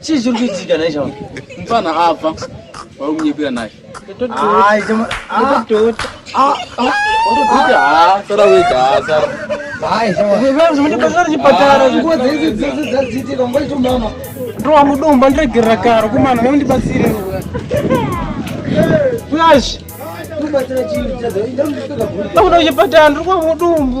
chii chiri kuitika nhai chama mfana abva wari kunyepera naye ndowamudomba ndiregerera karo kumana vandibatsire flash akuda kuchipatara ndiri kwamudumbu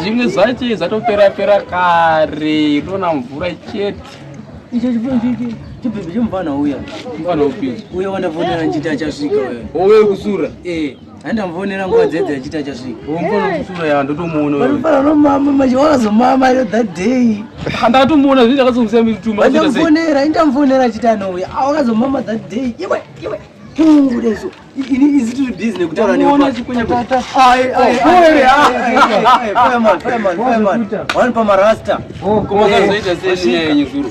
zvimwe zvacho zvatopera pera kare ndona mvura chete icho chibhebhi chibhebhi chomufana uya mufana upi uya wandavonera nchiti achasvika uya owe kusura ee eh. andamvonera nguva dzedzi achita chasvikaomama that day andatomuona zvii ndakazomsiyamitumaandamvonera indamvonera achita anouya awakazomama that day iwe iwe tungudezo ini izi tiri busy nekutaura newanpa marasta komazoita sei nyaya yenyu zuro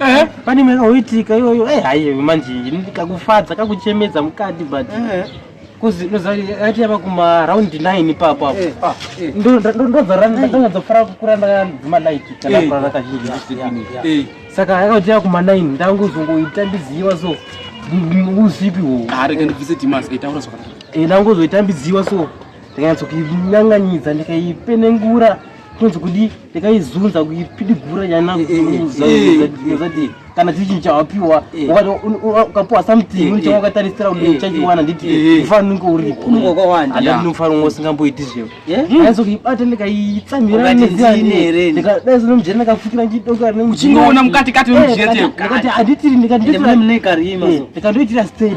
Eh, pane mwe kaoitika iyoyo eh hayi manje ndikakufadza kakuchemedza mukati but eh. kuzi nozari ati yava kuma round 9 papo apo eh, ah, eh. ndo ndo zara ndanga dzofara kukura ndanga dzima light kana kura raka zhinji eh saka akati yava kuma 9 ndangu zongo itambiziwa so uzipi wo ari ah, kana vise timas itaura so eh ndangu zo itambiziwa so ndikanyatso kunyanganyidza ndikaipenengura kunzi kudii ndakaizunza kuipidigura yanazadii kana chii chinhu chawapiwa ukapiwa something unenge wakatarisira kuti uchachiwana nditi mufano unenge uripoadinofano ngo usingamboiti zvevo aizokuibata ndikaitsamira neziyare ndikadai zino mujeri ndakafukira ndichidoka uchingoona mukati kati ndikati anditiri ndikandoitira stage